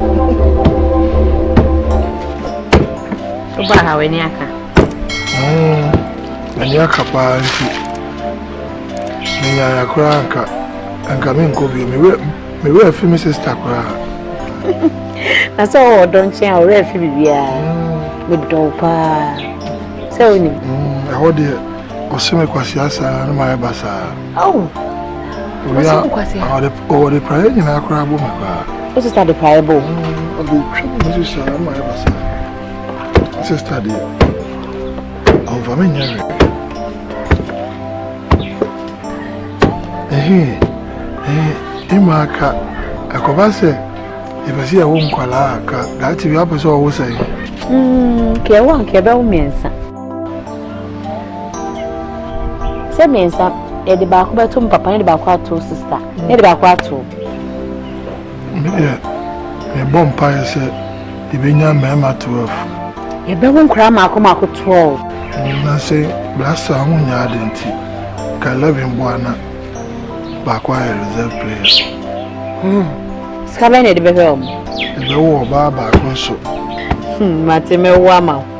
Oba ha w'ani aka. M'ani hmm, aka paa nti menyaya koraa nka nka menkɔ bio mewerɛ afi me sister koraa. Na sɛ ɔwɔ ɔdɔ nkyɛn a ɔwerɛ afi biribiara medɔ paa sɛ wonim. Ɛhɔ deɛ Ɔse me kwasea saa na mayɛ basaa. Awo. Owia ɔde ɔde praeɛ nyinaa koraa bɔ me koraa. O sista de praeɛ bɔ. Ɔde twa me nso saa na mayɛ basaa. Sista deɛ ɔmfa me nyɛ hwɛ. Ehe ehe ima aka ɛkɔba sɛ yɛpɛ sɛ yɛwo nkwalaa aka daakye bi apɛ sɛ ɔwo sɛn. Kɛwo anka ɛbɛwo mmiɛnsa. sɛ mmiɛnsa yɛde baako bɛto m papa ne de baako ato sista ne de baako ato medeɛ mebɔ mpaeɛ sɛ yɛbɛnya mmarima 12 yɛbɛwo nkora maako maako 12 na sɛ brasa ho nya ade nti ka 11 boa na baako ayɛ reserve player hmm. sika bɛn na ɛde bɛhwɛ ɔmo ɛbɛwo ɔbaa baako nso hmm, mate mɛwo ama wo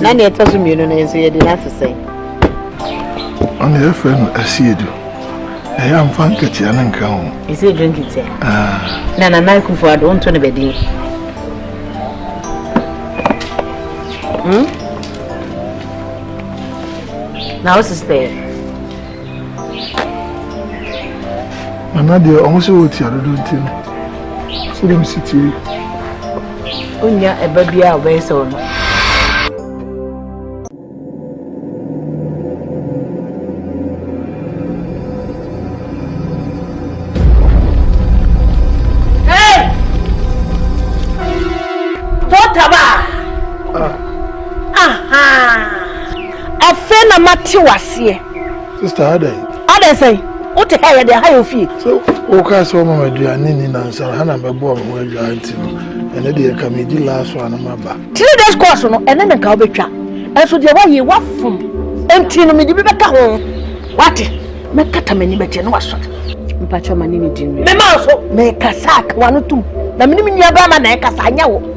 na nea ɛtɔ so mmienu no nso yɛde no ato sɛn ɔne yɛfrɛ no asiedu ɛyɛ amfa nkatia no nka ho ɛsɛ drink tia ah. na nana akufo ado wonto no bɛdin hmm? na wo sistɛɛ Nana deɛ ɔmo sɛ wɔtia dodo nti no sɛ dɛm si tie. Wonya ɛba biara a ɔbɛyɛ sɛ ɔno. Afei na mate wo aseɛ. Sista adɛn? Adɛn sɛn? Wote ha yɛ deɛ ha yɛ ofie. So wokaa sɛ woma m'aduane ni nansa ha na mɛboa me ho adwaa nti no ɛne deɛ nka medi last one na maba. Three days course no ɛne ne nka wobɛtwa ɛnso deɛ woayɛ woafom nti no mede bi bɛka ho wate mɛkata m'ani bɛkyɛ ne wasɔre. Mpakyɛ ma ne ne di nwi. Mema nso mekasa ka wano tum na menim nnuabrama na ɛkasa anyɛ wo.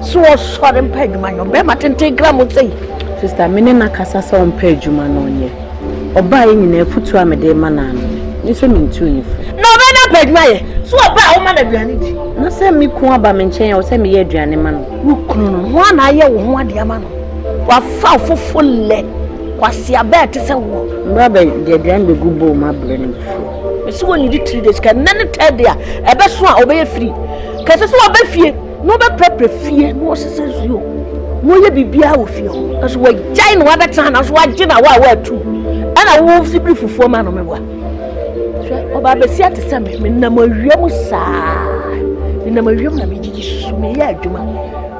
So ɔsɔre mpa adwuma nyɛ ɔbɛrima tenten kra mo sɛ yi. Sista me ne na kasa sɛ ɔmpa adwuma na ɔnyɛ. Ɔbaa yɛ nyinaa afutuo a mede ma no ano me. Ne sɛ mentuu ne fo. Na ɔbɛn na pa adwuma yɛ. So ɔbaa a woma no aduane di. Na sɛ me kun aba me nkyɛn a ɔsɛ meyɛ aduane ma no. Wo kunu no ho a na ayɛ wo ho adeɛ ama no. Wafa ɔfofo lɛ. Kwasea bɛɛ te sɛ woɔ. Mbra bɛ de aduane bɛgu bowl ma brɛ no fufuo. Mesi wɔn nidi three days kɛ nɛ ne third day a ɛbɛso a ɔbɛyɛ free kɛ sɛ sɛ waba fie. na ɔbɛprapra fie na ɔsesa nsuo na ɔyɛ biribiara wɔ fie hɔ na so wagyae na wabɛtena na so wagye na wa a watu ɛna wowɔ sibiri fufuo ma no mewa hwɛ ɔbaa bɛsia te sɛ me menam awia mu saa menam awia mu na megyegye susu meyɛ adwuma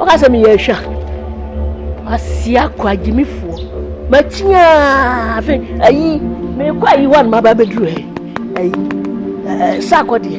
ɔka sɛ meyɛ ahwa asia kɔ agyimifoɔ makyiaa afei ayi mekɔ ayi hɔ a no maba bɛduru ɛ ayi eh, sakɔ deɛ